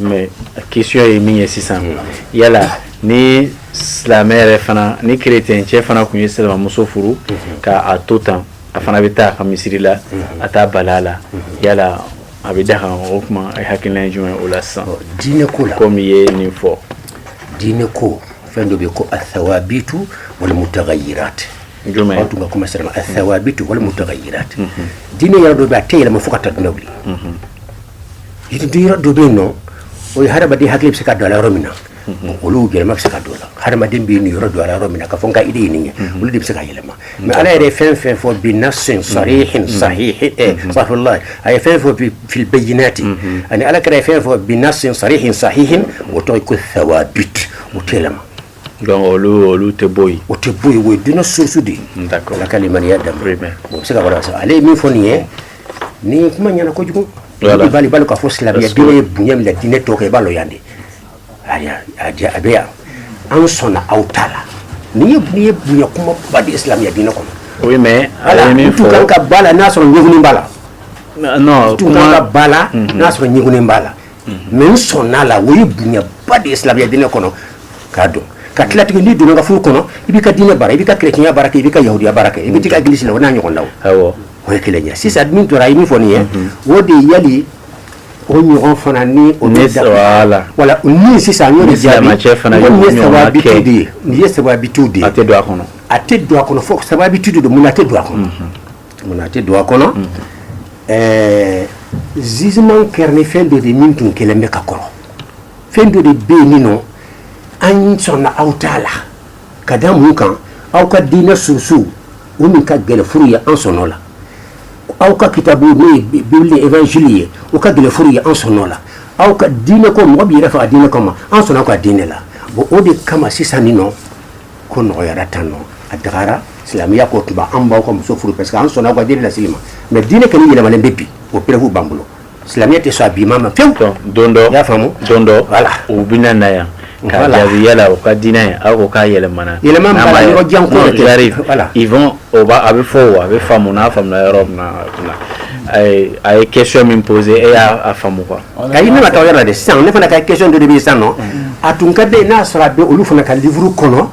Mais question ye min ye sisan yala ni silamɛ yɛrɛ fana ni kerecɛn cɛ fana kun ye silamɛmuso furu k'a to tan a fana bɛ taa a ka misiri la a t'a bali a la yala a bɛ daga o tuma a hakilina ye jumɛn o la sisan diinɛ ko la comme i ye nin fɔ diinɛ ko fɛn dɔ bɛ ko ath-thawabit wal mutaghayyirat An tun k'a commencer ath-thawabit wal mutaghayyirat diinɛ yɔrɔ dɔ bɛ a tɛ yɛlɛma fo ka taa diɲɛ wuli yɔrɔ dɔ bɛ yen nɔ o ye hadamaden hakili bɛ se ka don yɔrɔ min na olu yɛlɛma bɛ se ka don la hadamaden bɛ nin yɔrɔ don yɔrɔ min na ka fɔ n ka idée ye olu de bɛ se ka yɛlɛma mais ala yɛrɛ fɛn fɛn fɔ binassin sarihin sahihin ala ye fɛn fɔ fil bayyinat ani ala kira ye fɛn fɔ binassin sarihin sahihin o tɔgɔ ko thawabit o tɛ yɛlɛma olu tɛ bɔ yen o tɛ bɔ yen o ye diinɛ source de ala ka maniya da bon c'est ça ale ye min fɔ nin ye ni ye kuma ɲɛna kojugu bali bali ka fɔ silamɛya ye bonya min la diinɛ tɔ kan i b'a lɔn yan de a bɛ yan an sɔnna aw ta la ni ye ye bonya kuma ba de ye silamɛya diinɛ kɔnɔ oui mais ale min fɔ ka ba la n'a sɔrɔ ɲɛgunin b'a la non kuma ka ba la n'a sɔrɔ ɲɛgunin b'a la mais n sɔn'a la o ye bonyaba de ye silamɛya diinɛ kɔnɔ k'a dɔn ka tilatigɛ n'i donna n ka furu kɔnɔ i b'i ka diinɛ baara i b'i ka kerecɛnya baara kɛ i b'i ka yahudiya baara kɛ i bɛ ka egilisi la o n'a ɲɔgɔn la o ye kelen ye sisan min tora a ye min fɔ nin ye o de ye yali o ɲɔgɔn fana ni o ne la wala ni sisan y'o de jaabi cɛ fana ye saba de ye nin ye thawabitu de ye a tɛ don a kɔnɔ a tɛ don a kɔnɔ fo thawabitu de don mun a tɛ don a kɔnɔ Munna a tɛ don a kɔnɔ ɛɛ justement kɛra ni fɛn dɔ de min tun kɛlen bɛ ka kɔrɔ fɛn dɔ de bɛ yen min nɔ an sɔnna aw ta la ka da mun kan aw ka diinɛ source o min ka kɛ livre ye an sɔnna o la aw ka kitabu n'o ye bible ni évangile ye o ka kɛ livre ye an sɔnna o la aw ka diinɛ ko mɔgɔ bɛ yɛrɛ faga diinɛ kama ma an sɔnna aw ka diinɛ la bon o de kama sisan nin nɔ ko nɔgɔyara tan nɔ a dagara silamɛya ko tuma an b'aw ka muso furu parce que an sɔnna aw ka diinɛ la silamɛ mais diinɛ kɔni yɛlɛmalen bɛ bi o preuve b'an bolo silamɛya tɛ sɔn a bi ma ma pewu don dɔ y'a faamu don dɔ voilà u bɛna na yan ka jaabi yala u ka diinɛ ye aw ko k'a yɛlɛmana yɛlɛma janko a bɛ fɔ a bɛ faamu n'a faamuya yɔrɔ a ye question min poser e y'a faamu quoi Ka ne ma taa yɔrɔ de sisan ne fana ka question de bɛ sa nɔ a tun ka den n'a sɔrɔ a bɛ olu fana ka livre kɔnɔ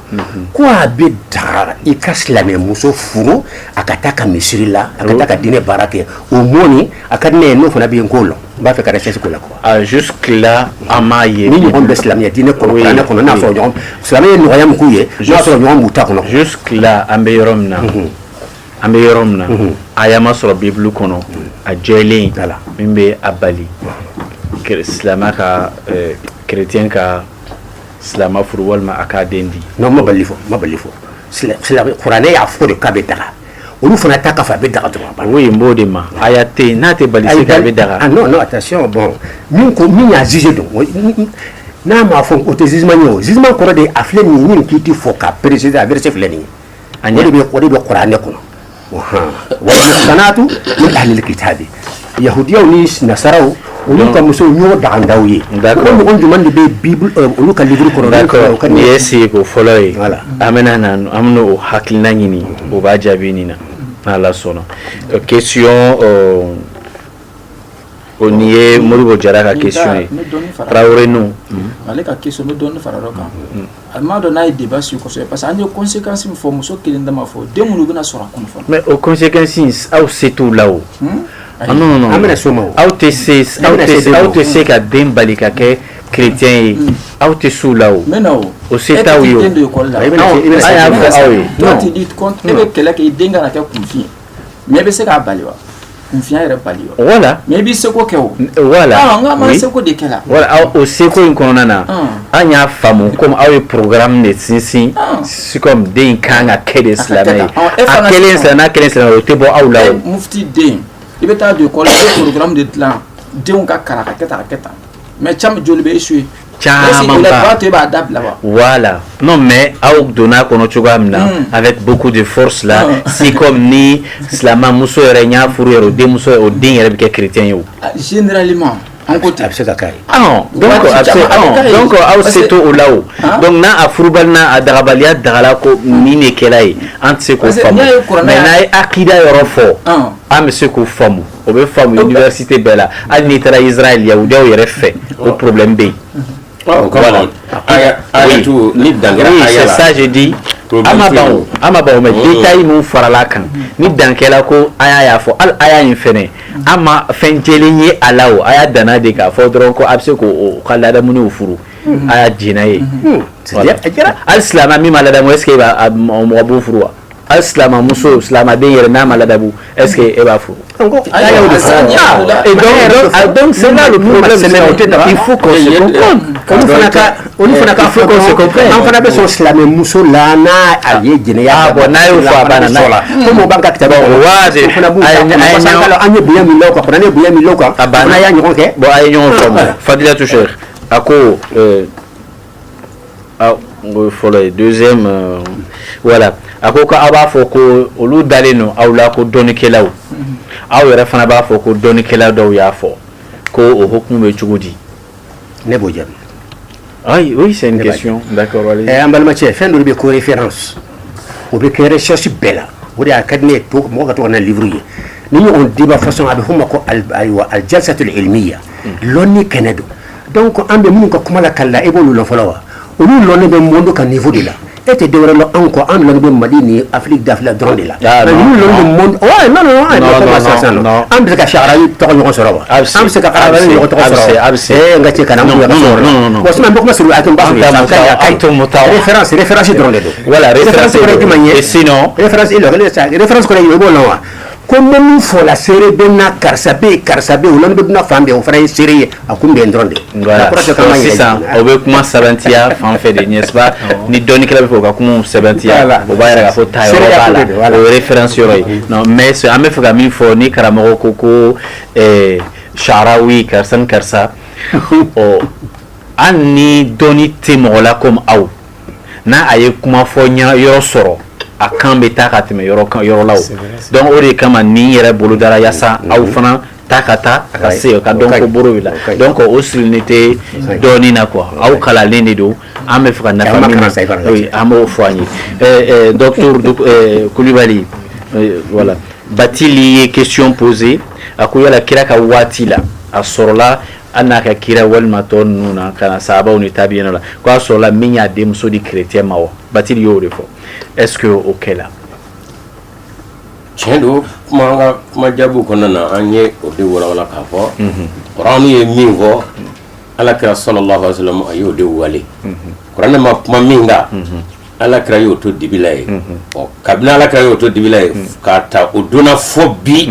ko a bɛ daga i ka silamɛmuso furu a ka taa ka misiri la a ka diinɛ baara kɛ o mɔni a ka diinɛ n'o fana bɛ yen ko la n b'a fɛ ka recherche k'o la jusque là a ma ye ni ɲɔgɔn bɛ silamɛya diinɛ ne kɔnɔ n'a sɔrɔ silamɛya ye nɔgɔya min kɛ ye n'a sɔrɔ ɲɔgɔn b'u ta kɔnɔ an bɛ yɔrɔ min na an bɛ yɔrɔ min na aya ma sɔrɔ bibulu kɔnɔ a jɛlen min bɛ a bali silamɛ ka chrétien ka silamɛ furu walima a k'a den di non a m'a bali fɔ kuranɛ y'a fɔ de k'a bɛ daga olu fana ta k'a fɔ a bɛ daga dɔrɔn n b'o de ma a y'a yen n'a tɛ bali a bɛ daga attention bon min ko min y'a jugé don n'a m'a fɔ o tɛ jugé ye o jugé kɔrɔ de a filɛ nin ye min k'i tɛ fɔ ka préciser a verset filɛ nin ye ani o de bɛ o de bɛ kuranɛ kɔnɔ wal muhsanatu min ahlil kitabi yahudiyaw ni nasaraw olu ka musow ɲɔgɔn dagalen d'aw ye o ɲɔgɔn jumɛn de bɛ bible euh, olu ka livre kɔnɔ d'accord nin ye seko fɔlɔ ye an bɛna na an bɛna o hakilina ɲini o b'a jaabi nin na n'ala sɔnna euh, question euh, o nin ye moribo jara ka question ye tarawele non ale ka question n bɛ dɔɔnin fara dɔ kan A m'a dɔn n'a ye débat sur parce que an ye kɔnsekansi fɔ muso kelen dama fɔ den minnu bɛna sɔrɔ a kɔfɛ mais o kɔnsekansin aw se t'o la o an bɛna s'o ma aw tɛ aw tɛ se ka den bali ka kɛ chrétien ye aw tɛ s'o la o mais o se t'aw ye e bɛ kɛlɛ kɛ i den kana kɛ kunfin Mais i bɛ se k'a bali wa kunfinya yɛrɛ bali wa voilà mais i b'i seko kɛ o voilà seko de kɛla voilà o seko in kɔnɔna na an y'a faamumu kɔmi aw ye programme in de sinsin c'est comme den ka kan ka kɛ de silamɛ ye a kɛlen silamɛ o tɛ bɔ aw la mufiti den i bɛ taa don école programme de dilan denw ka kalan ka kɛ tan a kɛ tan mais caman joli bɛ échouer voilà non mais aw donna kɔnɔ cogoya min na mm. avec beaucoup de force là mm. c'est comme ni silamɛ muso yɛrɛ n'i y'a furu yɛrɛ o den muso o den yɛrɛ bɛ kɛ chrétien ye o ah, généralement an ko ten a bɛ se ka k'a ye ah, donc a bɛ se ah, donc aw se t'o la o donc n'a a furubali n'a a dagabaliya dagala ko nin de kɛla ye an tɛ se k'o faamu mais n'a ye akida yɔrɔ fɔ an bɛ se k'o faamu o bɛ faamu université bɛɛ la hali n'i taara Israël yahudiyaw yɛrɛ fɛ o problème bɛ yen. o kama la ayatu ni dankɛra aya la c'est ça je dis an ma ban o an ma ban o mais détail min farala a kan ni dankɛla ko aya y'a fɔ hali aya in fɛnɛ an ma fɛn jɛlen ye a la o aya danna de k'a fɔ dɔrɔn ko a bɛ se k'o ka ladamuniw furu a y'a jɛna ye c'est-à-dire hali silamɛ min ma ladamu est ce que mɔgɔ b'o furu wa. hali silama muso silama den yɛrɛ n'a ma ladabu est ce que e b'a furu ah, donc c'est là le problème il faut qu'on se comprenne olu fana ka olu fana ka faut qu'on se comprenne an fana bɛ sɔn silamɛ muso la n'a a ye jɛnɛya ah, bon n'a y'o fɔ a banna n'a ye comme o b'an ka kitabu kɔnɔ waa de fana b'u ta parce que an ye bonya min l'o kan fana ne ye bonya min l'o kan a banna fana y'a ɲɔgɔn kɛ bon a ye ɲɔgɔn faamu fadilatu cheikh a ko Ah, o fɔlɔ ye deuxième euh, voilà a ko ko aw b'a fɔ ko olu dalen don aw la ko dɔnnikɛlaw mm-hmm. aw yɛrɛ fana b'a fɔ ko dɔnnikɛla dɔw y'a fɔ ko o hukumu bɛ cogo di ne b'o jaabi ayi oui c'est une question d'accord allez eh, an balimacɛ fɛn dɔ bɛ ko référence o bɛ kɛ recherche bɛɛ la o de y'a ka di ne ye mɔgɔ ka to ka na livre ye nin ɲɔgɔn débat façon a bɛ f'o ma ko ayiwa aljalsatul ilmiya mm. lɔnni kɛnɛ don Dɔw ko an bɛ minnu ka kuma la ka la e b'olu la fɔlɔ wa olu bɛ mun don ka nin fɔ de la e tɛ dɔw la anw kɔ an bɛ mali ni afi dafila dɔrɔn de la an bɛ ka sa tɔgɔ ɲɔgɔn sɔrɔ wa bɛ se ka ala ɲɔgɔn tɔgɔ sɔrɔ bɛ ka cɛ kana sɔrɔ a sɔrɔsi dɔrɔn de don wala e b'o la wa Ko bɛ min fɔ la seere bɛ na karisa bɛ ye karisa bɛ yen bɛ na fan bɛn o fana ye seere ye a tun bɛn dɔrɔn de sisan o bɛ kuma sɛbɛntiya fan fɛ de ɲɛ ni dɔnni kɛra bɛ fɔ ka kuma sɛbɛntiya la o b'a yɛrɛ fɔ ta la référence ye mais an bɛ fɛ ka min fɔ ni karamɔgɔ ko ko Sharawi karisa ni karisa ɔ ani dɔnni tɛ mɔgɔ la comme aw n'a a ye kuma fɔ ɲa yɔrɔ sɔrɔ a kan bɛ taa ka tɛmɛ yɔrɔ kan yɔrɔ la o c'est vrai c'est donc o de kama nin yɛrɛ bolodara yasa aw fana ta ka taa a ka Ouais. se ka O dɔn ka ko ɲi. boro bɛ la O ka ɲi. donc o sirilen tɛ dɔnni na quoi aw kalannen de don an bɛ fɛ ka nafa An ma min kalan sa i fana ka oui, an b'o fɔ an ye Euh, euh, docteur Duk- euh, Kulibali euh, voilà Batili ye question posée a ko yala kira ka waati la a sɔrɔla An n'a ka kira walima tɔ ninnu na ka na sahabaw ni tabiinaw la ko a sɔrɔla min y'a denmuso di chrétien ma wa Batili y'o de fɔ est-ce que o kɛla tiɲɛ don kuma jabu kɔnɔna na an ye o de walawala k'a fɔ Kuranɛ ye min fɔ ala kira sallallahu alaihi wasallam a y'o de wale Kuranɛ ma kuma min kan ala kira y'o to dibi la yen ɔ kabini ala kira y'o to dibi la yen k'a ta o don na fɔ bi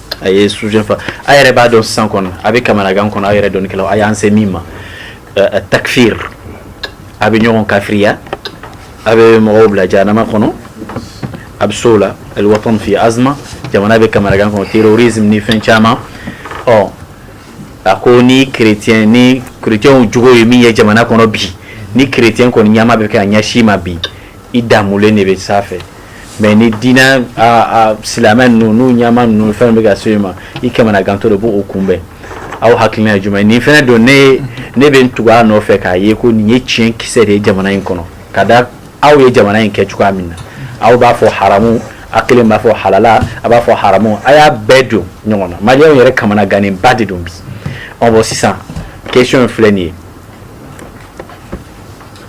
a ye sujet fa a yɛrɛ b'a dɔn san kɔnɔ a bɛ kamanagan kɔnɔ a yɛrɛ dɔnnikɛlaw a y'an se min ma takifiri a bɛ ɲɔgɔn kafiriya a bɛ mɔgɔw bila janama kɔnɔ a bɛ so la alwatan fi azma jamana bɛ kamanagan kɔnɔ terrorisme ni fɛn caman ɔ a ko ni chrétien ni chrétienw jugu ye min ye jamana kɔnɔ bi ni chrétien kɔnɔ ɲama bɛ k'a ɲɛsin ma bi i damulen de bɛ sanfɛ mais ni diinɛ silamɛ ninnu n'u ɲama ninnu fɛn bɛ ka se i ma i kamana gantɔ de b'o kunbɛn aw hakili ye jumɛn nin fɛn don ne bɛ tugu a nɔfɛ k'a ye ko nin ye tiɲɛ kisɛ de ye jamana in kɔnɔ ka da aw ye jamana in kɛ cogoya min na aw b'a fɔ haramu a kelen b'a fɔ halala a b'a fɔ haramu a y'a bɛɛ don ɲɔgɔn na maliyɛnw yɛrɛ kamana gannen ba de don bi bon sisan question in filɛ nin ye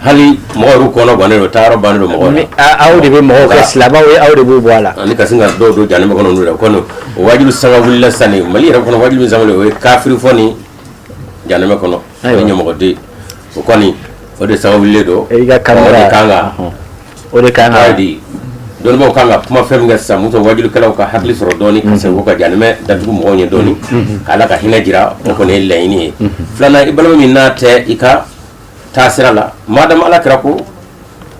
hali mɔgɔ yɛrɛ kɔnɔ gannen don taayɔrɔ bannen don mɔgɔw la aw de bɛ mɔgɔw kɛ silamɛw ye aw de b'u bɔ a la ani ka sin ka dɔw don jahanama kɔnɔ n'u la kɔni o wajuli sanga wulila sisan nin mali yɛrɛ kɔnɔ wajuli min sanga o ye kafiri fɔ ni jahanama kɔnɔ o ye ɲamɔgɔden o kɔni o de sanga wulilen don i ka kan ka o de kan ka di dɔnnibaaw kan ka kuma fɛn min kɛ sisan mun sɔrɔ wajulikɛlaw ka hakili sɔrɔ dɔɔni ka segin ka jahanama datugu mɔgɔw ɲɛ dɔɔni k'ala ka hinɛ jira o kɔni ye laɲini ye filanan i balima min n'a tɛ i ka taa sira la madamu ala kira ko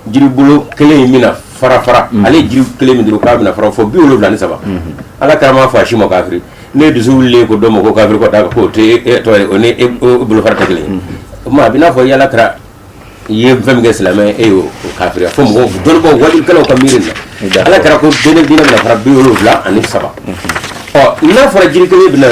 jiribolo kelen in bɛna fara fara mm. ale jiri kelen min dɔrɔn k'a bɛna fara fɔ bi wolowula ni saba mm-hmm. ala kira m'a fɔ a si ma kafiri ne dusu wulilen ko dɔ ma ko kafiri ko da ko te e, tɔ o ni bolofara tɛ kelen ye mm-hmm. o tuma a bɛ n'a fɔ i ala kira ye fɛn min kɛ silamɛ e y'o kafiriya fo mɔgɔw dɔnnibɔ wajulikɛlaw ka miiri la ala kira ko diinɛ bɛna fara bi wolowula ani saba ɔ n'a fɔra jiri kelen bɛna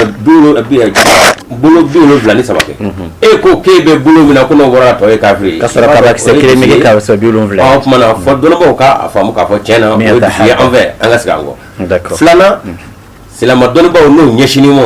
bolo bi wolowula ni saba kɛ e ko k'e bɛ bolo min na ko n'o bɔra tɔ ye kafiri ye ka sɔrɔ kabakisɛ kelen bɛ kɛ kabakisɛ bi wolonwula o tuma na fɔ dɔnnibaaw k'a faamu k'a fɔ tiɲɛ na o ye dusu ye an fɛ an ka segin an kɔ filanan silamɛ dɔnnibaaw n'o ɲɛsinni ma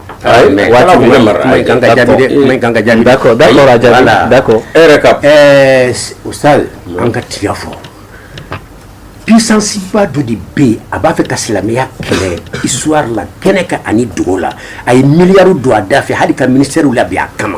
Mɛ an ka tiɲɛ fɔ puissance ba dɔ de bɛ yen a b'a fɛ ka silamɛya kɛlɛ histoire la kɛnɛ kan ani dogo la a ye milliard don a dafɛ hali ka ministèrew labɛn a kama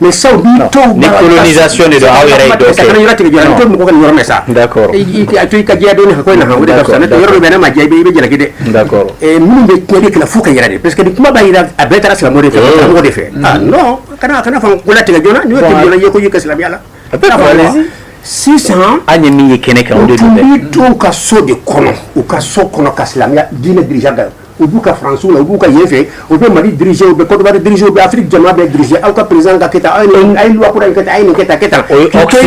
Mais sisan mɔgɔ sa i ka don i yɔrɔ bɛ ne ma jɛ i bɛ jalaki dɛ minnu bɛ tiɲɛni kɛla fo ka yɛrɛ de parce que kuma b'a jira a bɛɛ taara silamɛw de fɛ silamɛw de fɛ non kana fɔ ko latigɛ joona i ka silamɛya la sisan an ye min ye kɛnɛ kan ka so de kɔnɔ u ka so kɔnɔ ka silamɛya diinɛ U b'u ka fanransiw la u b'u ka yen fɛ u bɛ mali diriz u bɛ kɔrɔba diriz u bɛ afiri jama bɛɛ diriz aw ka perez ka kɛ a yekura in ka taa a ɲini ka taa kɛ taa o ye ka kan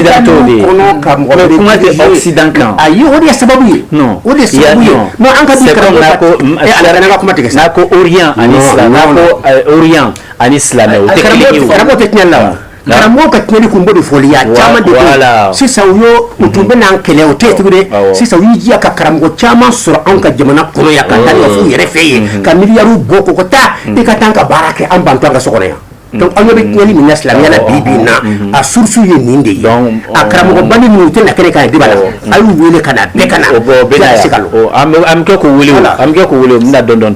a ye o de ye sababu ye o de an ka ka kuma tigɛ n'a ko oyan ani silamɛ oyan ani silamɛ tɛ la wa karamɔgɔ ka tiɲɛni kun b'o de fɔli y'a caman de ko sisan u y'o u tun bɛ n'an kɛlɛ o tɛ yen tugun dɛ sisan u y'i jija ka karamɔgɔ caman sɔrɔ anw ka jamana kɔnɔ yan ka taa ɲɛf'u yɛrɛ fɛ yen ka miliyariw bɔ ko ka taa i ka taa an ka baara kɛ an bantɔ an ka so kɔnɔ yan donc an ɲɛ bɛ tiɲɛni min na silamɛya la bi bi in na a source ye nin de ye a karamɔgɔbali ninnu u tɛ na kɛnɛ kan yan débat la a y'u wele ka na bɛɛ ka na bɛɛ ka se ka an bɛ kɛ k'u wele o an bɛ kɛ k'u wele u bɛ na dɔɔni dɔɔni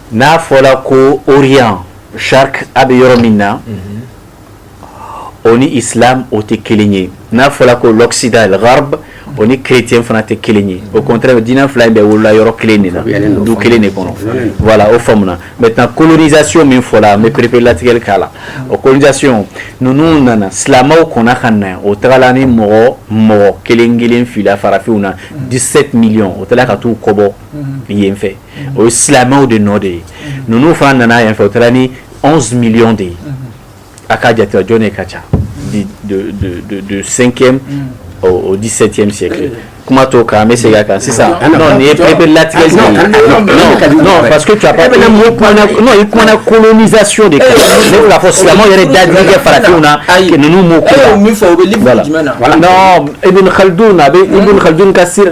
n'a fɔra ko Orient Chark a bɛ yɔrɔ min na o ni islam o tɛ kelen ye n'a fɔra ko Occident al Gharb o ni chrétien fana tɛ kelen ye au contraire diinɛ fila in bɛɛ wolola yɔrɔ kelen de la du kelen de kɔnɔ voilà o faamuya maintenant colonisation min fɔla n bɛ pereperelatigɛli k'a la o colonisation ninnu nana silamɛw kɔnna ka na o tagala ni mɔgɔ mɔgɔ kelen kelen fili farafinw na 17 millions o taara ka taa u kɔbɔ yen fɛ o ye silamɛw de nɔ de ye ninnu fana nana yan fɛ o taara ni 11 millions de ye a ka jate jɔn de ka ca du cinquième au 17e siècle kuma to kan an bɛ segin a kan sisan non nin ye bɛɛ bɛ latigɛ non non parce que tu as pas non i kumana colonisation de kan ne bɛ k'a fɔ silamɛw yɛrɛ dadigi kɛ farafinw na ninnu m'o ko la min fɔ o bɛ livre jumɛn na non Ibn Khaldun a bɛ Ibn Khaldun ka sira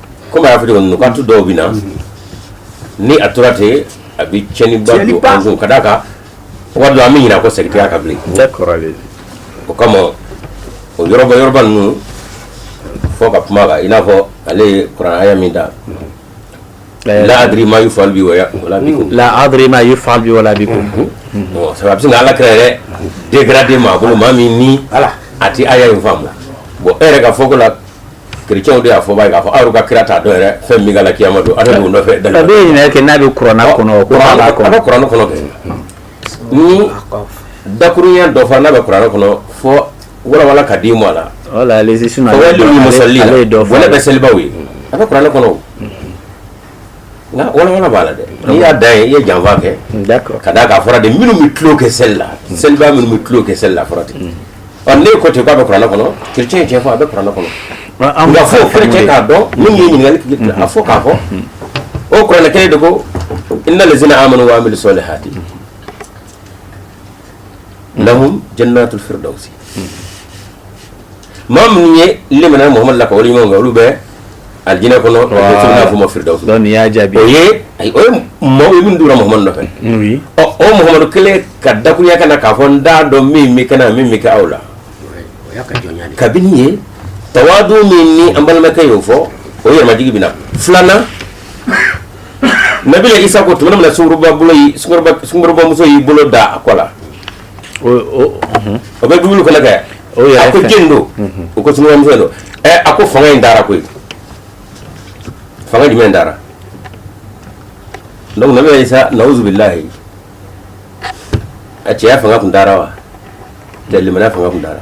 comme a y'a fɔ cogo min na k'an to dɔw bɛ na ni a tora ten a bɛ tiɲɛniba don an kun ka d'a kan waati dɔ an bɛ ɲinɛ a kɔ sɛgitiya kan bilen o kama o yɔrɔba yɔrɔba ninnu fɔ ka kuma kan i n'a fɔ ale ye kurana aya min da la adri ma yufal bi wala bikum la adri ma yufal bi wala bikum bon ça va bien ala kira yɛrɛ dégradé maa bolo maa min ni a ti aya in faamu bon e yɛrɛ ka fɔ ko la kerecɛnw de y'a fɔ b'a ye k'a fɔ aw ka kira t'a dɔn yɛrɛ fɛn min k'a la kiyama don a taa don o nɔfɛ dali a bɛ ɲinɛ kɛ n'a bɛ kurana kɔnɔ o kurana b'a kɔnɔ a bɛ kurana kɔnɔ kɛ ni dakurunya dɔ fana bɛ kurana kɔnɔ fɔ walawala ka di mɔ a la wala ale sisan ale ye dɔ fɔ waylu lil musallin wala bɛ selibaw ye a bɛ kurana kɔnɔ Nka walawala b'a la dɛ n'i y'a da yen i ye janfa kɛ ka d'a kan a fɔra de minnu bɛ tulon kɛ seli la seliba minnu bɛ tulon kɛ seli la a fɔra ten ɔ ne ko ten k'a bɛ kuranɛ kɔnɔ kerecɛn tiɲɛ fɔ a bɛ kuranɛ kɔnɔ nka fɔ kerecɛn k'a dɔn nin ye ɲininkali a fɔ k'a fɔ o kuranɛ kelen de ko inna lazina amanu wa amilu salihati lahum jannatul firdawsi maa minnu ye limana muhamadu la ka wale ɲuman kɛ olu bɛ alijinɛ kɔnɔ n'a f'o ma firidawusu donc nin y'a jaabi o ye ayi o ye maaw ye minnu donna muhamadu nɔfɛ oui ɔ o muhamadu kelen ka dakuruya ka na k'a fɔ n t'a dɔn min bɛ kɛ n na min bɛ kɛ aw la o y'a ka jɔnya de ye. kabini ye tawadu min ni an balimakɛ y'o fɔ o ye yɛrɛmajigi bɛ na filanan nabila isa ko tuma min na sungurubabolo y'i- sungurubamuso y'i bolo da a kɔ la o bɛ dumuni kɛlɛ kɛ a ko jɔn don u ko sungurunba muso don a ko fanga in taara koyi fanga jumɛn taara donc nabila Isa nauzu billahi a cɛya fanga tun taara wa tɛ limaniya fanga tun taara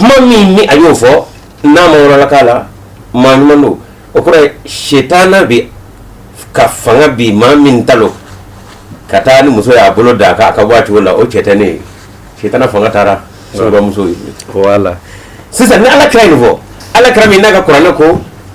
maa min ni a y'o fɔ n'a ma wɔlɔlɔkan la maa ɲuman don o kɔrɔ ye setana bɛ ka fanga bi maa min ta lo ka taa ni muso y'a bolo da a kan a ka bɔ a cogo la o setana setana fanga taara sɔrɔ muso ye voilà sisan ni ala kira nin fɔ ala kira min n'a ka kuranɛ ko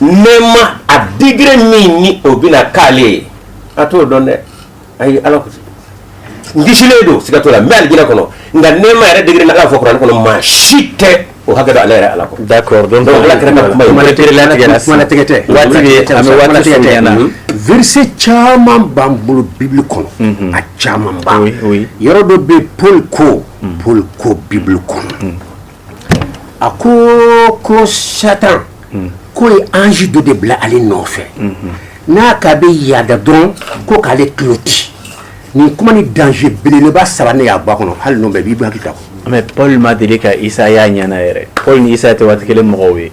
nɛɛma a degré min ni o bɛna k'ale ye a t'o dɔn dɛ ayi Ala ko n kisilen don siga t'o la n bɛ alijinɛ kɔnɔ nka nɛɛma yɛrɛ degré ni Ala y'a fɔ kuranɛ kɔnɔ maa si tɛ o hakɛ dɔn ale yɛrɛ Ala kɔ d'accord donc Ala kira ka kuma ye kumalatigɛ tɛ waati bɛ an bɛ waati fɔ ɲɛna mhm. verset caman b'an bolo Bible kɔnɔ mhm. a caman ba yɔrɔ dɔ bɛ Paul ko mhm. Paul ko Bible kɔnɔ a ko ko satan ko ye ange dɔ de bila ale nɔfɛ n'a k'a bɛ yaada dɔrɔn ko k'ale tulo ci nin kuma ni danger belebeleba saba ne y'a bɔ a kɔnɔ hali n'o bɛɛ b'i bɔ hakili ta mais Paul ma deli ka Isa y'a ɲɛ na yɛrɛ Paul ni Isa tɛ waati kelen mɔgɔw ye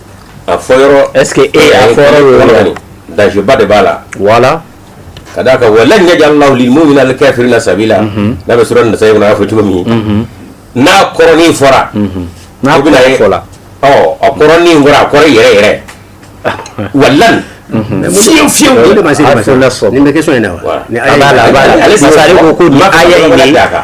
A fɔ ɛsseke e y'a daba de b'a la wala ka d'a ka wa ɲɛja la n'u bɛna kɛ feere la sabi la n'a bɛ sɔrɔ nasa y'a fɔ cogo min n'a kɔrɔnin fɔra n'a bɛna e fɔ la a kɔrɔnin fɔra a kɔrɔ yɛrɛ yɛrɛ wa fiye fiye ma se bɛ in na ale ko ko a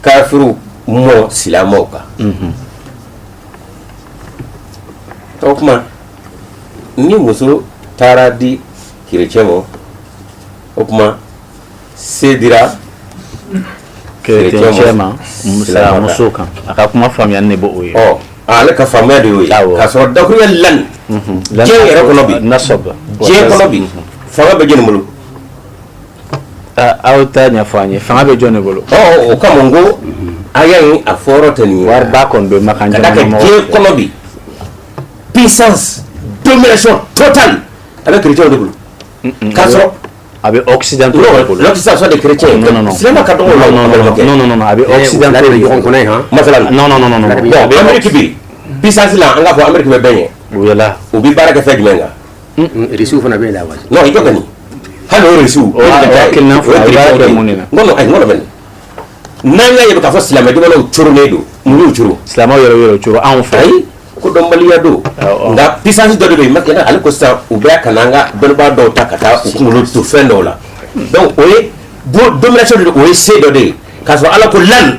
kafiriw ma silamɛw kan o tuma ni muso taara di kerecɛn ma o tuma se dira kerecɛn ma muso kan a ka kuma faamuya ne b'o ye ale ka faamuya de y'o ye k'a sɔrɔ dakuruya lan diɲɛ yɛrɛ kɔnɔ bi diɲɛ kɔnɔ bi fanga bɛ jɛn bolo aw t'a ɲɛfɔ an ye fanga bɛ jɔn de bolo o kama n ko a y'a ye a fɔyɔrɔ tɛ nin wari ba kɔni bɛ makan ka kɛ diɲɛ kɔnɔ bi puissance domination totale a bɛ chrétien de bolo k'a sɔrɔ a bɛ occidentaux de bolo l'occident soit des chrétiens non non non silamɛ ka dɔgɔ la non non non non a bɛ occidentaux de bolo ɲɔgɔn kɔnɔ ye han masala non non non non bon Amérique bi puissance la an k'a fɔ Amérique bɛ bɛn ye o bɛ la u bɛ baara kɛ fɛn jumɛn kan risiw fana b'a la wa non i jɔ kɔni hali o risiw o ye ka taa kelen fɔ a b'a kɛ mun de la n kɔnɔ ayi n kɔnɔ bɛ nin n'an y'a ye k'a fɔ silamɛ jamanaw coronnen don mun y'u coro silamɛw yɛrɛ yɛrɛ coro anw fɛ ayi ko dɔnbaliya don nka puissance dɔ de bɛ yen maintenant ale ko sisan u bɛ ka na an ka dɔnnibaa dɔw ta ka taa u kunkolo to fɛn dɔw la donc o ye domination de don o ye se dɔ de ye k'a sɔrɔ ala ko lan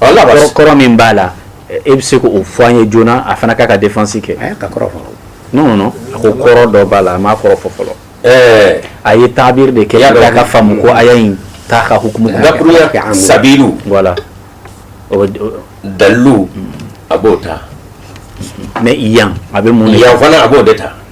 kɔrɔ min b'a la e bɛ se k'o fɔ an ye joona a fana k'a ka défense kɛ non non non a ko kɔrɔ dɔ b'a la a m'a kɔrɔ fɔ fɔlɔ eh. a ye tabiri de kɛ y'a dɔn a ka faamu ko aya in t'a ka hukumu dakuruya sabilu voilà dalilu a b'o ta mais yan a bɛ mun yan fana a b'o de ta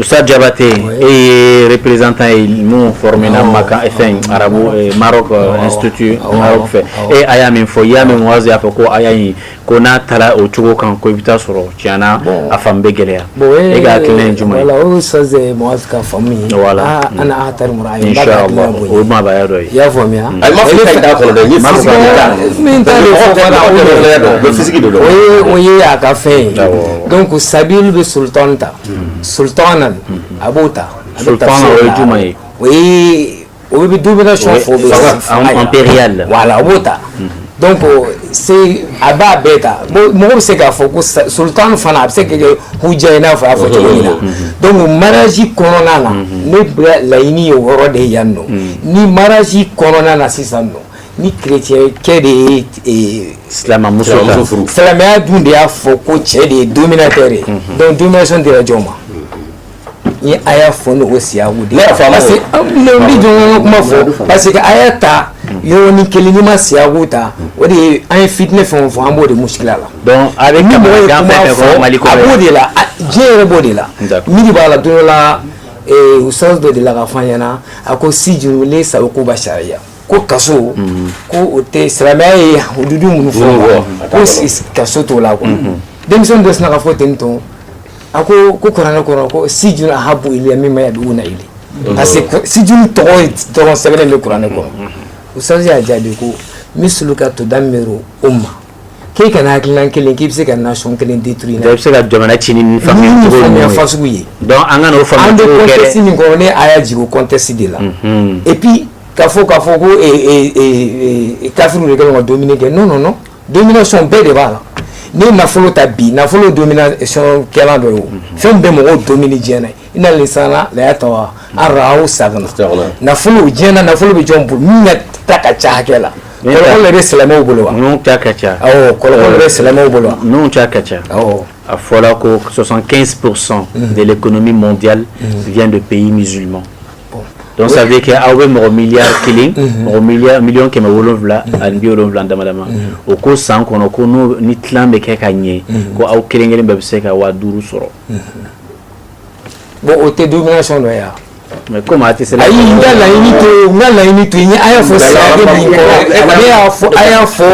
Sa jabate e ye repereztan ye minnu fɔra makan fɛn arabu maaro fɛ e a y'a min fɔ i y'a min wase y'a fɔ ko a y'a ko n'a taara o cogo kan ko i bɛ taa sɔrɔ tiɲɛna a fan bɛ gɛlɛya e ka kelen j la o sa ka fa ye la an taabaya dɔ y'a faamuya a ma o ye a ka fɛn ye don ko sabiuru bɛ so tan ta hmm. sultanan hmm. a b'o ta sultana o ye jumɛn ye o ye o bɛ domination fɔ bɛ impérial voilà a b'o ta donc c'est a b'a bɛɛ ta mɔgɔ bɛ se k'a fɔ ko sultan fana a bɛ se ka kɛ hujja i n'a fɔ a y'a fɔ cogo min na donc mariage kɔnɔna na ne bɛ laɲini ye o yɔrɔ de ye yan nɔ ni mariage kɔnɔna na sisan nɔ Ni chrétien kɛ de ye silamɛmuso furu silamɛya dun de y'a fɔ ko cɛ de ye dominateur ye donc domination dira jɔn ma ni a y'a fɔ n'o siyaku de parce que n bɛ jɔn kuma fɔ parce que aya ta yɔrɔnin kelen n'i ma siyaku ta o de ye an ye fitinɛ fɛn o fɛn an b'o de muskila la a b'o de la diɲɛ yɛrɛ b'o de la miiri b'a la don dɔ la ustaz dɔ dela k'a fɔ an ɲɛna a ko sijinu sa koba sariya ko kaso ko o tɛ silamɛya ye hududu minnu fɔ ko kaso t'o la quoi denmisɛnnin dɔ sinna ka fɔ ten tɔn a ko ko kuranɛ kɔnɔ ko sijun ahabu iliya mimma yad'una ilayhi parce que sijun tɔgɔ dɔrɔn sɛbɛnnen bɛ kuranɛ kɔnɔ ustaz y'a jaabi ko misluka tudammiru umma k'e ka nin hakilina kelen k'i bɛ se ka nation kelen détruire i bɛ se ka jamana ci ni nin faamuya cogo ninnu faamuya fasugu ye donc an kan'o faamuya cogo kɛ dɛ an bɛ contexte min kɔnɔ ne aya jigin o contexte de la et puis ka fɔ k'a fɔ ko kafiriw de kɛlen ka dominer kɛ non non non domination bɛɛ de b'a la n'i ye nafolo ta bi nafolo domination kɛlan dɔ ye o fɛn bɛɛ mɔgɔw dominer diɲɛ na inna linsana la yatga an ra'ahu stagna nafolo diɲɛ na nafolo bɛ jɔn bolo min ka ta ka ca hakɛ la kɔlɔkɔlɔ de bɛ silamɛw bolo wa ninnu ta ka ca awɔ kɔlɔkɔlɔ de bɛ silamɛw bolo wa ninnu ta ka ca awɔ a fɔra ko 75 pour cent de l'économie mondiale vient de pays musulmans Donc ça veut dire que aw bɛ mɔgɔ miliyari kelen mɔgɔ miliyɔn kɛmɛ wolonwula ani bi wolonwula dama dama o ko san kɔnɔ ko ni tilan bɛ kɛ ka ɲɛ ko aw kelen kelen bɛɛ bɛ se ka waga duuru sɔrɔ bon o tɛ domination dɔ ye wa mais comme a tɛ se la laɲini to laɲiniini to ɲɛ a y'a fɔ sa y'a fɔ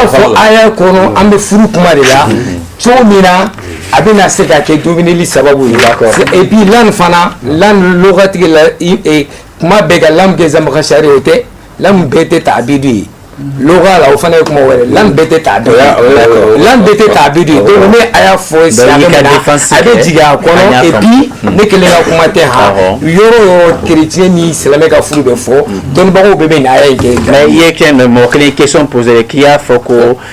fɔ aya kɔnɔ an bɛ furu kuma de la cogo min na a bɛna se ka kɛ domineli sababu ye et puis lan fana lan lɔgɔtigi la kuma bɛɛ ka lan kɛ zamakasari o tɛ lan bɛɛ tɛ taabidu ye lɔgɔ la o fana ye kuma wɛrɛ lan bɛɛ tɛ taabidu ye lan bɛɛ tɛ taabidu ye donc ne a y'a fɔ siya min na a bɛ jigin a kɔnɔ et puis ne kelen ka kuma tɛ han yɔrɔ o yɔrɔ chrétien ni silamɛ ka furu bɛ fɔ dɔnnibagaw bɛɛ bɛ nin aya in kɛ mais i ye kɛ mɔgɔ kelen question poser k'i y'a fɔ ko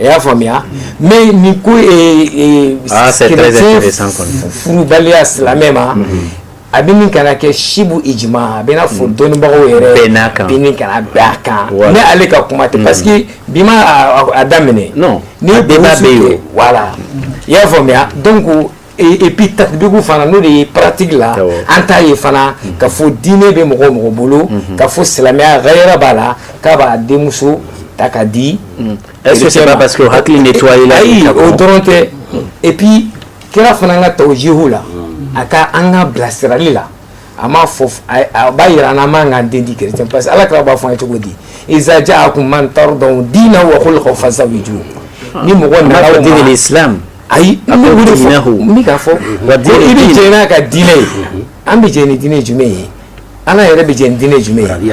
I y'a faamuya mɛ ni ko furubaliya silamɛ ma a bɛ min kana kɛ sibu i a bɛa fɔ dɔnnibagaw yɛrɛ n'a kan kan ale ka kuma ten parce que bi a daminɛ i y'a faamuya ko Et puis tatbigu fana n'o de ye pratique la an t'a ye fana ka fɔ diinɛ bɛ mɔgɔ o mɔgɔ bolo ka fɔ silamɛya ghayra b'a la k'a b'a denmuso ta ka di parce que hakili de to la ayi o dɔrɔn tɛ et puis kira fana ka tawjihu la a ka an ka bilasirali la a m'a fɔ a b'a jira an na an man kan ka den di chrétien parce que ala kira b'a fɔ an ye cogo di iza ja'akum man tardawna diinahu wa khuluqahu fazawwijuhu ni mɔgɔ nana deli silamɛ ayi an bɛ wuli fɔ k'a fɔ i bɛ jɛ n'a ka diinɛ ye an bɛ jɛ ni diinɛ jumɛn ye ala yɛrɛ bɛ jɛ ni diinɛ jumɛn ye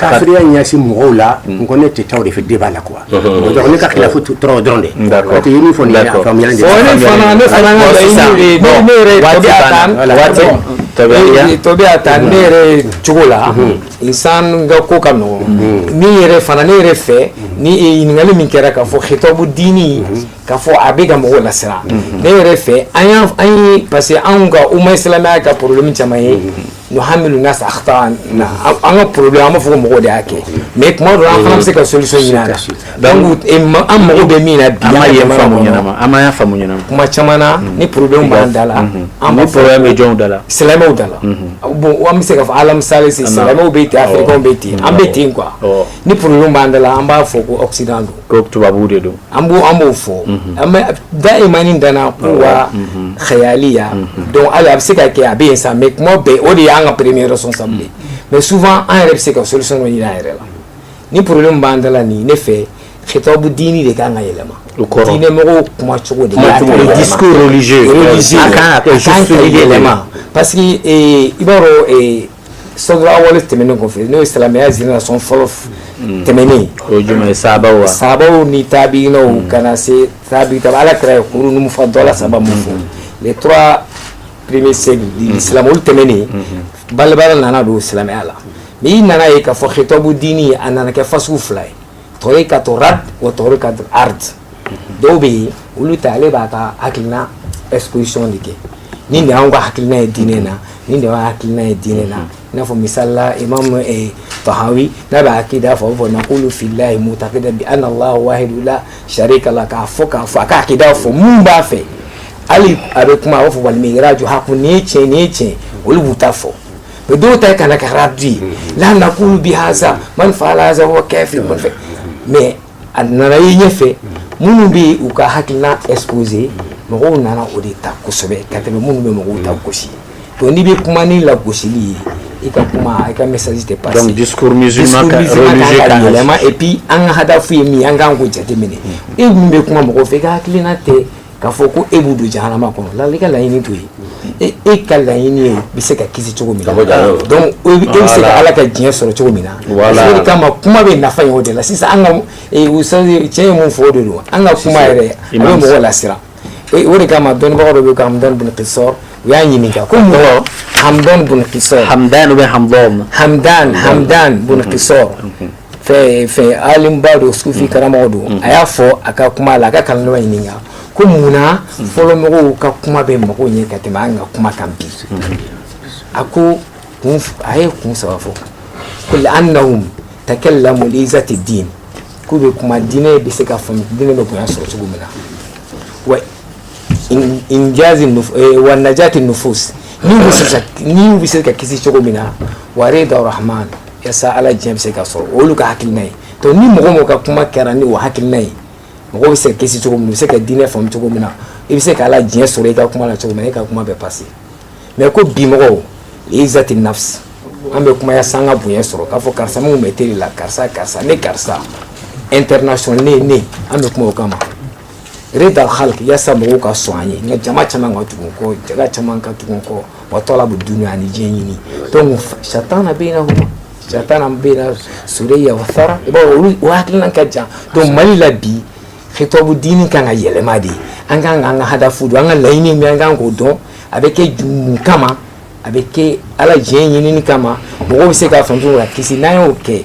Kafiriya ɲɛsin mɔgɔw la n ko ne tɛ taa o de fɛ débat la quoi ne ka khilafu dɔrɔn de taa ne yɛrɛ cogo la insan ka ko ka nɔgɔ ni yɛrɛ fana ne yɛrɛ fɛ ni ɲininkakali min kɛra ka fɔ khitabu dini ka fɔ a bɛ ka mɔgɔw lasiran ne yɛrɛ fɛ an ye parce que anw ka umma silamɛya ka problème caman ye nuhamilu nasa akhtaana an ka problème an b'a fɔ ko mɔgɔw de y'a kɛ mais tuma dɔ la an fana bɛ se ka solution ɲini a la donc an mago bɛ min na bi an ma y'a faamu ɲɛnama an ma y'a faamu ɲɛnama kuma caman na ni problème b'an da la an b'a fɔ problème bɛ jɔnw da la silamɛw da la bon an bɛ se ka fɔ alamisale se silamɛw bɛ ten afirikɛnw bɛ ten an bɛ ten quoi ni problème b'an da la an b'a fɔ ko occident don ko tubabuw de don an b' an b'o fɔ daiman idana kuwa xayaliya donc a bɛ se ka kɛ a bɛ yen sa mais kuma bɛɛ o de y'an ka premier responsable mais souvent an yɛrɛ bɛ se ka solution ɲini an yɛrɛ la ni problème b'an da la nin ne fɛ xitabu dini de kan ka yɛlɛma diinɛ mɔgɔw kuma cogo de yɛlɛma parce que i b'a sadru awal tɛmɛnen kɔfɛ n'o ye silamɛya génération fɔlɔ mm. tɛmɛnen ye sahabaw ni tabiinaw mm. ka na se tabi ta ala kira ye kurunu mufadɔla saba min fɔ mm-hmm. les trois premiers siècles mm-hmm. de l'islam olu tɛmɛnen mm-hmm. balabala nana don silamɛya la mais i nana ye k'a fɔ xitabu dini a nana kɛ fasugu fila ye tarikatu rad wa tarikatu ard dɔw bɛ yen olu ta ale b'a ka hakiliina exposition de kɛ nin de y'an ka hakiliina ye diinɛ na nin de y'an hakiliina ye diinɛ na i n'a fɔ misali la imam tahawi n'a bɛ akida fɔ fɔ nakulu fillahi mutakida bi an ala wahidu la sarika la k'a fɔ k'a fɔ a ka akida fɔ mun b'a fɛ hali a bɛ kuma a b'a fɔ wal miraju hakun nin ye tiɲɛ nin ye tiɲɛ olu b'u ta fɔ mais dɔw ta ka na kɛ radu ye la nakulu bi haza man faala haza huwa kafir man fɛ mais a nana ye ɲɛfɛ minnu bɛ u ka hakilina exposer mɔgɔw nana o de ta kosɛbɛ ka tɛmɛ minnu bɛ mɔgɔw ta gosi donc n'i bɛ kuma ni lagosili ye i ka kuma i ka message tɛ passer donc discours musulman ka religieux ka yɛlɛma et puis an ka hadafu ye min ye an kan k'o jateminɛ e min bɛ kuma mɔgɔw fɛ i ka hakilina tɛ k'a fɔ ko e b'u don jahanama kɔnɔ la i ka laɲini t'o ye e, e ka laɲini ye bɛ se ka kisi cogo min na donc e bɛ se ka ala ka diɲɛ sɔrɔ cogo min na o de kama kuma bɛ nafa ye o de la sisan an ka e, cɛ ye mun fɔ o de don an ka kuma yɛrɛ a bɛ mɔgɔ lasiran e, o de kama dɔnnibagaw dɔ bɛ ko hamdan bin kisɔr u y'a ɲininka ko mun hamdan bin kisɔr hamdan ou bien hamdan hamdan hamdan bin kisɔr fɛn fɛn alimba don sufi karamɔgɔ don a y'a fɔ a ka kuma la a ka kalandenw ɲininka ko mun na fɔlɔ mɔgɔw ka kuma bɛ mago ɲɛ ka tɛmɛ an ka kuma kan bi a ko kun a ye kun saba fɔ ko li annahum takallamu li izati din k'u bɛ kuma diinɛ bɛ se ka faamu diinɛ bɛ bonya sɔrɔ cogo min na wa injazi eh, wa najati nufus ni bɛ se ka ni bɛ se ka kisi cogo min na wa rida rahman yasa ala diɲɛ bɛ se ka sɔrɔ olu ka hakilina ye donc ni mɔgɔ mɔgɔ ka kuma kɛra ni o hakilina ye mɔgɔ bɛ se ka kisi cogo min na u bɛ se ka diinɛ faamu cogo min na i bɛ se ka ala diɲɛ sɔrɔ i ka kuma la cogo min na e ka kuma bɛ passer mais ko bi mɔgɔw li izati nafs an bɛ kuma yasa an ka bonya sɔrɔ k'a fɔ karisa minnu bɛ télé la karisa karisa ne karisa international ne ne an bɛ kuma o kama ridal khalq yasa mɔgɔw ka sɔn an ye nka jama caman ka tugu kɔ jama caman ka tugu kɔ wa talabu dunya ani diɲɛ ɲini donc shattana baynahuma shattana bayna surayya wa thara i b'a dɔn o hakilina ka jan donc mali la bi khitabu diini kan ka yɛlɛma de an kan ka an ka hadafu dɔn an ka laɲini min an kan k'o dɔn a bɛ kɛ mun kama a bɛ kɛ ala diɲɛ ɲinini kama mɔgɔw bɛ se k'a faamu ka kisi n'an y'o kɛ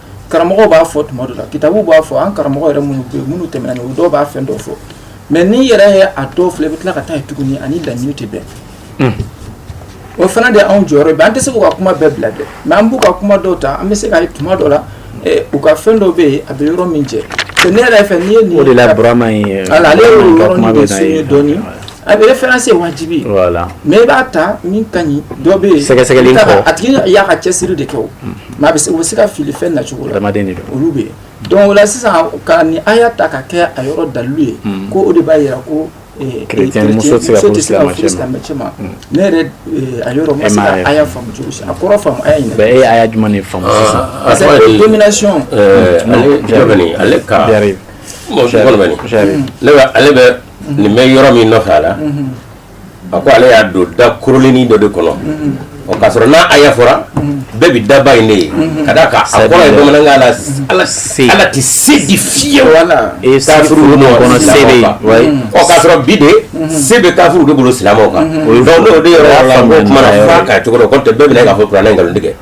karamɔgɔ b'a fɔ tuma dɔ la kitabu b'a fɔ an karamɔgɔ yɛrɛ minnu bɛ minnu tɛmɛna o dɔw b'a fɛn dɔw fɔ mais n'i yɛrɛ ye a dɔw filɛ i bɛ tila ka taa ye tuguni a ni laɲini tɛ bɛn hmm. o fana de y'anw jɔyɔrɔ ye an tɛ se k'u ka kuma bɛɛ bila dɛ mais an b'u ka kuma dɔw ta an bɛ se k'a ye tuma dɔ la eh, u ka fɛn dɔw bɛ yen a bɛ yɔrɔ min jɛ ne yɛrɛ fɛ n'i ye nin o de la burama in ye ala ale y'o yɔrɔnin de souligner dɔɔni a bɛ référence ye wajibi ye voilà mais i b'a ta min ka ɲi dɔ bɛ yen sɛgɛsɛgɛli kɔ a tigi y'a ka cɛsiri de kɛ o Maa bɛ u se ka fili fɛn na cogo adamadamaden olu bɛ yen don la sisan ka ni a y'a ta ka kɛ a yɔrɔ dalu ye ko o de b'a jira ko ne yɛrɛ faamu cogo a kɔrɔ ale ale bɛ nin bɛ yɔrɔ min nɔfɛ a la a ko ale y'a don da koorilennin dɔ de kɔnɔ o k'a sɔrɔ n'a aya fɔra bɛɛ bɛ daba in de ye ka d'a kan a kɔrɔ ye bamanankan na ala tɛ se di fiyewu kafiriw o k'a sɔrɔ bi de se bɛ kafiriw de bolo silamɛw kan donc ne o de yɔrɔ la n ko kumana f'a ka cogo dɔn n'o tɛ bɛɛ bɛna k'a fɔ kuranɛ ye nkalon tigɛ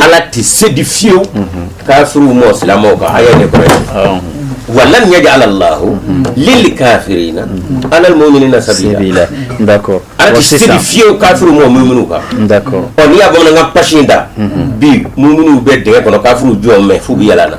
ala tɛ se di fiyewu kafiriw ma silamɛw kan aya nin kɔrɔ wa lan yaj'ala llahu lil kafirina alal muminina sabila ala tɛ se di fiyewu kafiriw ma muminu kan ɔ n'i y'a bamanankan pasi in da bi muminu bɛ dingɛ kɔnɔ kafiriw jɔn mɛn fo bɛ yalala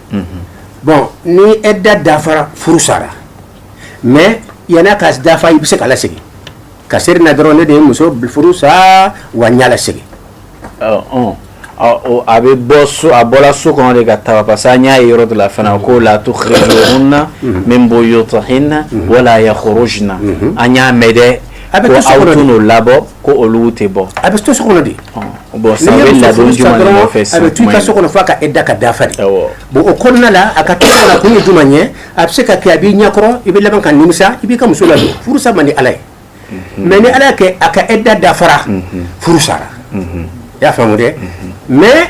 bon ni ɛda dafara furu sara mais yann'a ka dafa i bɛ se k'a lasegin ka se na dɔrɔn n'e de ye muso furu sa wa i y'a lasegin a bɛ bɔ so a bɔla so kɔnɔ de ka taa parce que an y'a ye yɔrɔ dɔ la fana ko la tukhrijuhunna min buyutihinna wala yakhrujna an y'a mɛn dɛ A bɛ kɛ so kɔnɔ de, ko aw tɛn'o labɔ ko olu tɛ bɔ, a bɛ to so kɔnɔ de, bon sisan a bɛ ladon jumɛn de nɔfɛ sisan, a bɛ to i ka so kɔnɔ f'a ka ɛda ka dafa de, awɔ, bon o kɔnɔna la a ka to so kɔnɔ kun ye jumɛn ye a bɛ se ka kɛ a b'i ɲɛkɔrɔ i bɛ laban ka nimisa i b'i ka muso ladon furusa man di Ala ye, unhun, mais ni Ala y'a kɛ a ka ɛda dafara, unhun, furu sara, unhun, i y'a faamu dɛ mais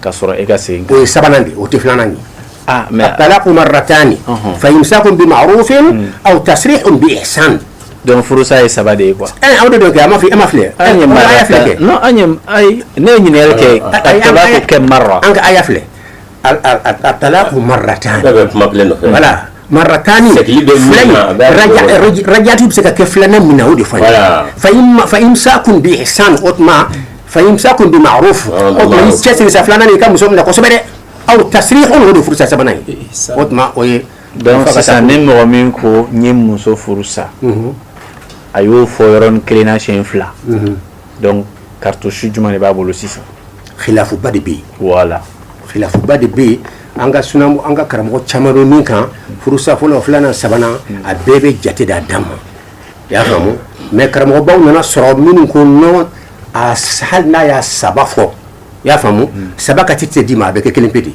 Ka sɔrɔ e ka segin o ye sabanan de o tɛ filanan ye mais attalaqu marratani fa imsakun bi ma'rufin aw tasrihun bi ihsan donc furusa ye saba de ye quoi aw de don kɛ a ma fɔ e ma filɛ aya filɛ kɛ ne ye ɲininkali kɛ talaqu kam marra an ka aya filɛ attalaqu marratani Marratani rajati bɛ se ka kɛ fila min na o de fa fa imsakun bi ihsan o tuma fa imsakun bi maruf o tuma cɛ siyɛn filanan i ka muso minɛ kosɛbɛ dɛ aw tasrihun o de furusa sabanan ye o tuma o ye donc sisan ni mɔgɔ min ko n ye muso furu sa a y'o fɔ yɔrɔnin kelen na siyɛn fila donc cartouche jumɛn de b'a bolo sisan khilafuba de bɛ yen voilà khilafuba de bɛ yen an ka sun an ka karamɔgɔ caman bɛ min kan furusa fɔlɔ filanan sabanan a bɛɛ bɛ jate d'a dan ma i y'a faamu mais karamɔgɔbaw nana sɔrɔ minnu ko non a hali n'a y'a saba fɔ i y'a faamu saba ka tɛ te d'i ma a bɛ kɛ kelen pe de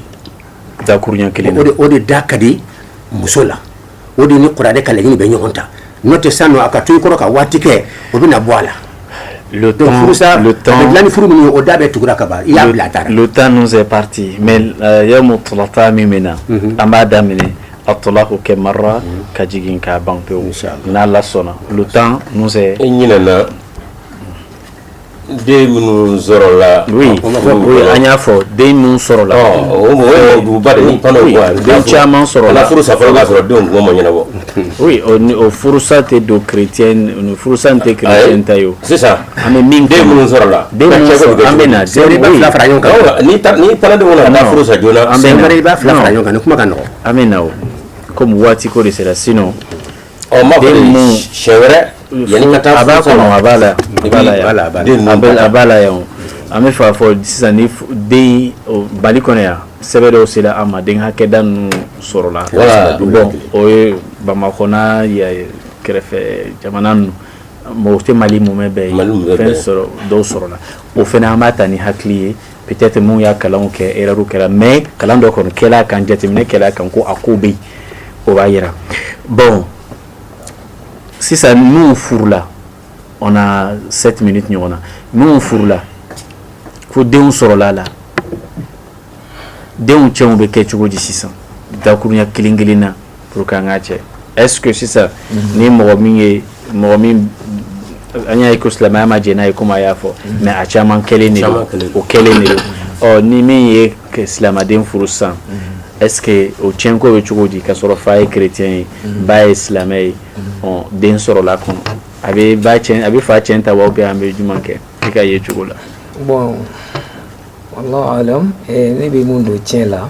dakuruɲɛ kelen o de da ka di muso la o de ni kuranɛ ka laɲini bɛ ɲɔgɔn ta n'o tɛ sisan nɔ a ka to i kɔrɔ ka waati kɛ o bɛna bɔ a la le temps, donc furusa le temps, a bɛ dilan ni furu min ye o da bɛɛ tugura ka ban i y'a bila a taara le temps nous est parti mais euh, yawmu tulata min bɛ na mhm. an b'a daminɛ attalaku kɛ marra mhm. ka jigin k'a ban pewu n'ala sɔnna le temps nous est e ɲinɛna Den minnu sɔrɔla an y'a fɔ den minnu sɔrɔla den caman sɔrɔla furu sɔrɔ ma ɲɛnabɔ furusa tɛ don chrétien furusa tɛ chrétien ta ye sisan ani den minnu sɔrɔla bɛ kuma ka an bɛ na kɔmi waati ko de sera sin Ɔ ma bɛ siɲɛ wɛrɛ yanni ka taa a b'a kɔnɔ a b'a la a b'a la yan an bɛ fa fɔ sisan ni den mali kɔnɔ yan sɛbɛn dɔw sera an ma den hakɛda ninnu sɔrɔla bon o ye bamakɔ n'a kɛrɛfɛ jamana ninnu mɔgɔ tɛ mali mumɛ bɛɛ ye fɛn sɔrɔ dɔw sɔrɔla o fana an b'a ta ni hakili ye Peut-être minnu y'a kalan kɛ erreur kɛra mais kalan dɔ kɔni kɛra a kan jateminɛ kɛra a kan ko a ko bɛ yen o b'a jira bon sisan n'u furula on a sept minutes ɲɔgɔn na n'u furula fo denw sɔrɔla a la denw ciyɛnw bɛ kɛ cogo di sisan dakurunya kelen kelen na pour que an k'a cɛ est ce que sisan mhm. ni mɔgɔ min ye mɔgɔ min an y'a ye ko silamɛya ma jɛn n'a ye komi a y'a fɔ mhm. mais a caman kɛlen de don o kɛlen de don ɔ ni min ye silamɛden furu sisan mhm. est ce que o tiɲɛko bɛ cogo di k'a sɔrɔ fa ye chrétien ye ba ye silamɛ ye ɔ den sɔrɔla kɔnɔ a bɛ ba tiɲɛ a bɛ fa tiɲɛ ta wa ou bien an bɛ jumɛn kɛ i ka yecogo la. bon wallahu alam eh, ne bɛ mun don tiɲɛ la.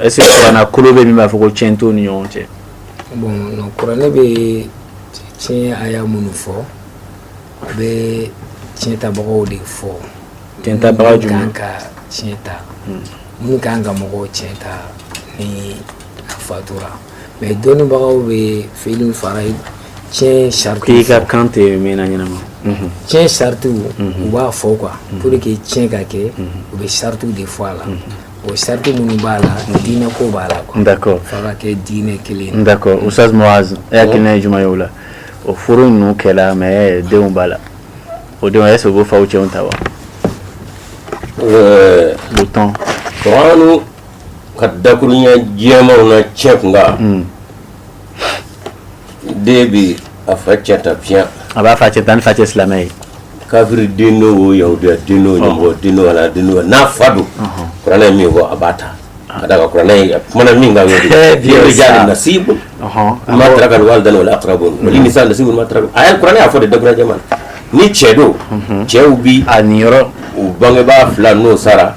Est ce que kuranna kolo bɛ min b'a fɔ ko tiɲɛ t'u ni ɲɔgɔn cɛ bɔn kuranɛ bɛ tiɲɛ aya minnu fɔ a bɛ tiɲɛtabagaw de fɔ tiɲɛtabaga jumɛn ka tiɲɛ ta hmm. minnu kan ka mɔgɔw tiɲɛ ta ni a fatura mais dɔnnibagaw bɛ fɛn fara tiɲɛ saritiw k'i ka kan tɛ mɛn na ɲɛnama hmm. tiɲɛ saritiw hmm. u b'a fɔ quoi pour que tiɲɛ ka kɛ u bɛ saritiw de fɔ a la O sariti minnu b'a la diinɛ ko b'a la quoi d'accord f'a ka kɛ diinɛ kelen ye d'accord Oustaz Muaz e hakilina ye jumɛn ye o la o furu ninnu kɛla mais denw b'a la o denw est ce que u b'u faw cɛn ta wa euh, le temps Kur'ani ka dakuruɲɛ jɛmanw na cɛn kunkan hmm. den bi a fa cɛn ta bien a b'a fa cɛn ta ni fa tɛ silamɛ ye kafiri den o yahudiya den o den o ala den o n'a fa don kuranɛ ye min fɔ a b'a ta ka da kuranɛ kumana min kan rijali nasibu mimma taraka alwalidani wal aqrabun wali nisa nasibu mimma taraka a ye kuranɛ y'a fɔ de dakuruɲɛ jɛman ni cɛ don cɛw bɛ a niyɔrɔ u bangebaa fila n'u sara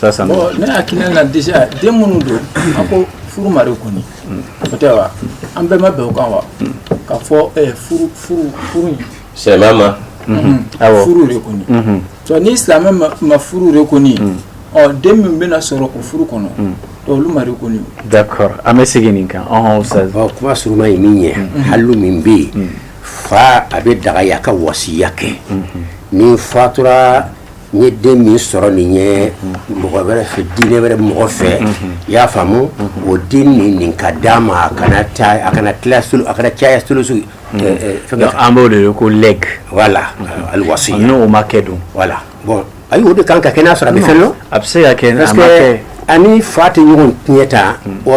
Sisan ne hakili na déjà den minnu don an ko furu ma reconnu o tɛ wa an bɛɛ ma bɛn o kan wa ka fɔ eh, furu furu furu in silamɛya ma mhm. awɔ furu reconnu mhm. donc ni silamɛ ma furu reconnu mhm. ɔ den min bɛna sɔrɔ o furu kɔnɔ olu ma reconnu d'accord an bɛ segin nin kan ɔhɔn ustaz ɔ kuma suruma ye min ye halu min bɛ yen fa a bɛ dagaya ka wasiya kɛ ni fatura n ye den min sɔrɔ nin ye mɔgɔ wɛrɛ fɛ diinɛ wɛrɛ mɔgɔ fɛ i y'a faamu o den nin nin ka d'a ma a kana a kana tila a kana caya sulusu an b'o de ye ko legs voilà alwasiya n'o ma kɛ dun voilà bon ayi o de kan ka kɛ n'a sɔrɔ a bɛ fɛn dɔn parce que a ni fa tɛ ɲɔgɔn tiɲɛ ta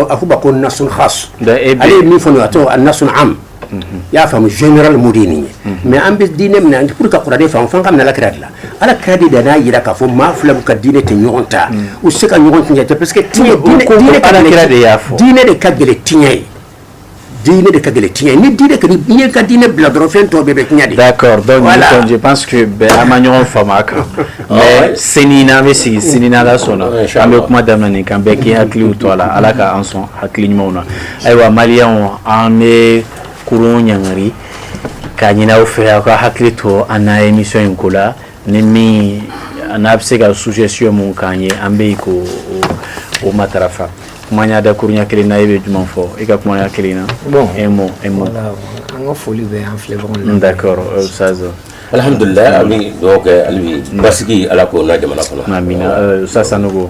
a fɔ ko nasun khas ale ye min fɔ a tɔgɔ a nasun am i y'a faamu généralement de ye nin ye mais an bɛ diinɛ min na an ka kuranɛ faamu fo k'a minɛ alakira de la ala kira de da n'a jira k'a fɔ maa fila ka diinɛ tɛ ɲɔgɔn ta u se ka ɲɔgɔn tiɲɛ ta parce que alakira de y'a fɔ diinɛ de ka gɛlɛn tiɲɛ ye diinɛ de ka gɛlɛn tiɲɛ ni diinɛ ka diɲɛ ka diinɛ bila dɔrɔn fɛn tɔw bɛɛ bɛ tiɲɛ de d'accord donc voilà. je pense- je pense que bɛɛ an ma ɲɔgɔn faamu a kan mais sini n'an bɛ sigi sini n'ala sɔnna an bɛ kuma daminɛ nin kan bɛɛ k'i hakiliw to a la ala ka an sɔn hakili ɲumanw na Ayiwa maliyɛnw an bɛ kurun ɲɔngiri k'a ɲini aw fɛ aw ka hakili to an na émission in ko la ni min n'a bɛ se ka suggestion min k'an ye an bɛ k'o matarafa kumaya dakuruɲɛ kelen na e bɛ jumɛn fɔ e ka kumaya kelen na bon un mot un mot an ka foli bɛ an filɛbagaw la ustaz alihamdulila an bɛ duwa kɛ alibi basigi ala k'o la jamana kɔnɔ sa sanu